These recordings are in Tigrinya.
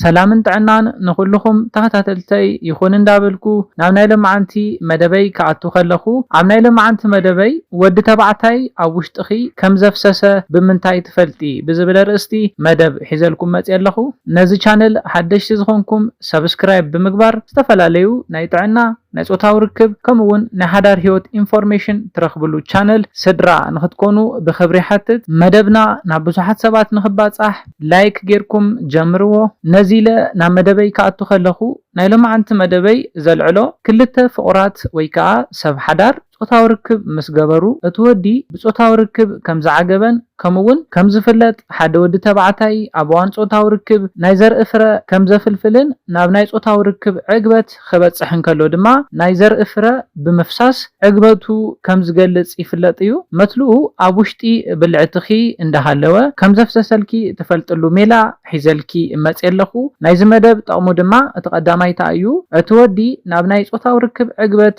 ሰላምን ጥዕናን ንኹሉኹም ተኸታተልተይ ይኹን እንዳበልኩ ናብ ናይ ለማዓንቲ መደበይ ክኣቱ ከለኹ ኣብ ናይ ለማዓንቲ መደበይ ወዲ ተባዕታይ ኣብ ውሽጥኺ ከም ዘፍሰሰ ብምንታይ ትፈልጢ ብዝብል ኣርእስቲ መደብ ሒዘልኩም መፅየ ኣለኹ ነዚ ቻነል ሓደሽቲ ዝኾንኩም subscribe ብምግባር ዝተፈላለዩ ናይ ጥዕና ናይ ፆታዊ ርክብ ከምኡ ውን ናይ ሓዳር ሂወት ኢንፎርሜሽን ትረኽብሉ ቻነል ስድራ ንኽትኮኑ ብኽብሪ ይሓትት መደብና ናብ ብዙሓት ሰባት ንኽባፃሕ ላይክ ጌርኩም ጀምርዎ ነዚ ኢለ ናብ መደበይ ክኣቱ ከለኹ ናይ ሎምዓንቲ መደበይ ዘልዕሎ ክልተ ፍቑራት ወይ ከኣ ሰብ ሓዳር ጾታዊ ርክብ ምስ ገበሩ እቲ ወዲ ብጾታዊ ርክብ ከም ዝዓገበን ከምኡ ውን ከም ዝፍለጥ ሓደ ወዲ ተባዕታይ ኣብ እዋን ጾታዊ ርክብ ናይ ዘርኢ ፍረ ከም ዘፍልፍልን ናብ ናይ ጾታዊ ርክብ ዕግበት ዓመት ኸበጽሕ እንከሎ ድማ ናይ ዘርኢ ፍረ ብምፍሳስ ዕግበቱ ከም ዝገልጽ ይፍለጥ እዩ። መትልኡ ኣብ ውሽጢ ብልዕትኺ እንዳሃለወ ከም ዘፍሰሰልኪ ትፈልጥሉ ሜላ ሒዘልኪ መጽየ ኣለኹ። ናይዚ መደብ ጠቕሙ ድማ እቲ ቀዳማይ ታኣዩ እቲ ወዲ ናብ ናይ ጾታዊ ርክብ ዕግበት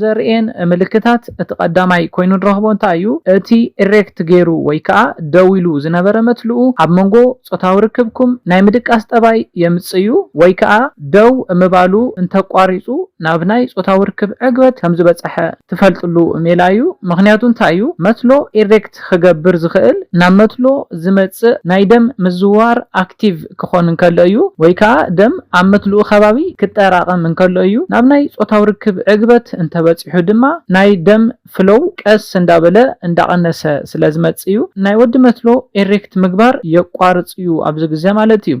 ዘርእየን ምልክታት እቲ ቀዳማይ ኮይኑ ንረኽቦ እንታይ እዩ? እቲ ኢሬክት ገይሩ ወይ ከኣ ደው ኢሉ ዝነበረ መትልኡ ኣብ መንጎ ጾታዊ ርክብኩም ናይ ምድቃስ ጠባይ የምጽእ'ዩ ወይ ከኣ ደው ምባሉ እንተቋሪጹ ናብ ናይ ጾታዊ ርክብ ዕግበት ከም ዝበጸሐ ትፈልጥሉ ሜላ እዩ። ምኽንያቱ እንታይ እዩ? መትሎ ኢሬክት ክገብር ዝኽእል ናብ መትሎ ዝመጽእ ናይ ደም ምዝውዋር ኣክቲቭ። ክኾን እንከሎ እዩ፣ ወይ ከኣ ደም ኣብ መትልኡ ከባቢ ክጠራቐም እንከሎ እዩ፣ ናብ ናይ ጾታዊ ርክብ ዕግበት እንተበጺሑ ድማ ናይ ደም ፍሎው ቀስ እንዳበለ እንዳቐነሰ ስለ ዝመጽእ እዩ፣ ናይ ወዲ መትሎ ኤሬክት ምግባር የቋርጽ እዩ ኣብዚ ግዜ ማለት እዩ።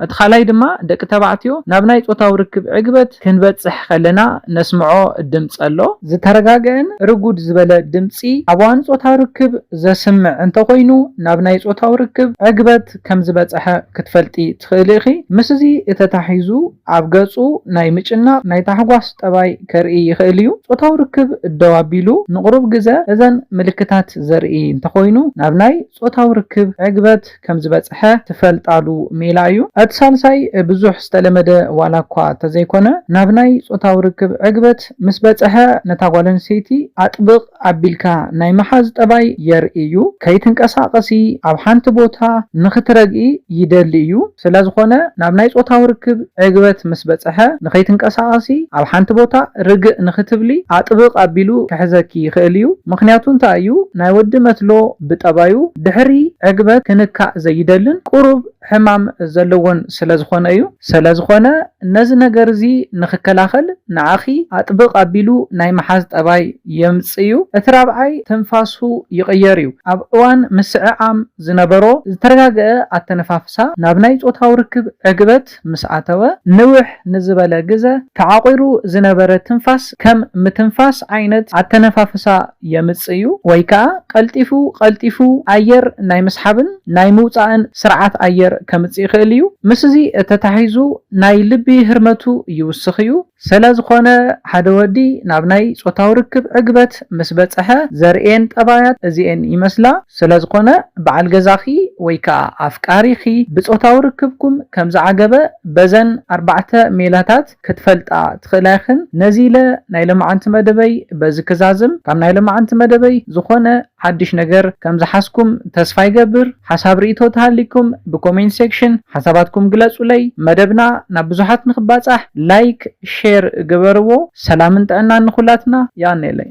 እቲ ካልኣይ ድማ ደቂ ተባዕትዮ ናብ ናይ ጾታዊ ርክብ ዕግበት ክንበጽሕ ከለና ነስምዖ ድምጺ ኣሎ፣ ዝተረጋገኣን ርጉድ ዝበለ ድምጺ ኣብ እዋን ጾታዊ ርክብ ዘስምዕ እንተኾይኑ ናብ ናይ ጾታዊ ርክብ ዕግበት ከም ዝበጸሐ ክትፈልጢ ትኽእሊ ኢኺ። ምስዚ ተታሒዙ ኣብ ገጹ ናይ ምጭናቕ፣ ናይ ታሕጓስ ጠባይ ከርኢ ይኽእል እዩ። ጾታዊ ርክብ ደው ኣቢሉ ንቕሩብ ግዘ እዘን ምልክታት ዘርኢ እንተኾይኑ ናብ ናይ ጾታዊ ርክብ ዕግበት ከም ዝበጸሐ ትፈልጣሉ ሜላ እዩ። እቲ ሳልሳይ ብዙሕ ዝተለመደ ዋላ እኳ እንተዘይኮነ ናብ ናይ ጾታዊ ርክብ ዕግበት ምስ በጸሐ ነታ ጓል ኣንስተይቲ ኣጥብቕ፣ ኣቢልካ ናይ ምሓዝ ጠባይ የርኢ እዩ። ከይትንቀሳቐሲ ኣብ ሓንቲ ቦታ ንኽትረግኢ ይደሊ እዩ። ስለዝኾነ ናብ ናይ ጾታዊ ርክብ ዕግበት ምስ በጸሐ ንኸይትንቀሳቐሲ ኣብ ሓንቲ ቦታ ርግእ ንኽትብሊ ኣጥብቕ ኣቢሉ ክሕዘኪ ይኽእል እዩ። ምኽንያቱ እንታይ እዩ ናይ ወዲ መትሎ ብጠባዩ ድሕሪ ዕግበት ክንካእ ዘይደልን ቁሩብ ሕማም ዘለዎን ስለዝኾነ እዩ። ሰለዝኾነ ነዚ ነገር እዚ ንኽከላኸል ንዓኺ ኣጥብቕ ኣቢሉ ናይ ምሓዝ ጠባይ የምጽእ እዩ። እቲ ራብዓይ ትንፋሱ ይቕየር እዩ። ኣብ እዋን ምስዕዓም ዝነበሮ ዝተረጋገኣ ኣተነፋፍሳ ናብ ናይ ጾታዊ ርክብ ዕግበት ምስ ኣተወ፣ ንውሕ ንዝበለ ግዘ ተዓቑሩ ዝነበረ ትንፋስ፣ ከም ምትንፋስ ዓይነት ኣተነፋፍሳ የምጽእ'ዩ ወይ ከኣ ቀልጢፉ ቀልጢፉ ኣየር ናይ ምስሓብን ናይ ምውጻእን ስርዓት ኣየር ከምጽእ ይኽእል እዩ። ምስዚ ተታሒዙ ናይ ልቢ ህርመቱ ይውስኽ እዩ። ሰለዝኾነ ሓደ ወዲ ናብ ናይ ጾታዊ ርክብ ዕግበት ምስ በጸሐ ዘርእየን ጠባያት እዚኤን ይመስላ። ስለዝኾነ በዓል ገዛኺ ወይ ከኣ ኣፍቃሪኺ ብጾታዊ ርክብኩም ከምዝዓገበ በዘን ኣርባዕተ ሜላታት፣ ክትፈልጣ ትኽእላ ኢኽን። ነዚ ኢለ ናይ ለማዓንቲ መደበይ በዚ ክዛዝም። ካብ ናይ ለማዓንቲ መደበይ ዝኾነ ሓድሽ ነገር ከም ዝሓዝኩም ተስፋ ይገብር። ሓሳብ ሪኢቶ ተሃሊኩም ብኮሜንት ሴክሽን ሓሳባትኩም ግለጹለይ። መደብና ናብ ብዙሓት ንኽባጻሕ ላይክ ሼር ግበርዎ። ሰላምን ጥዕናን ንኹላትና። የቀኔለይ።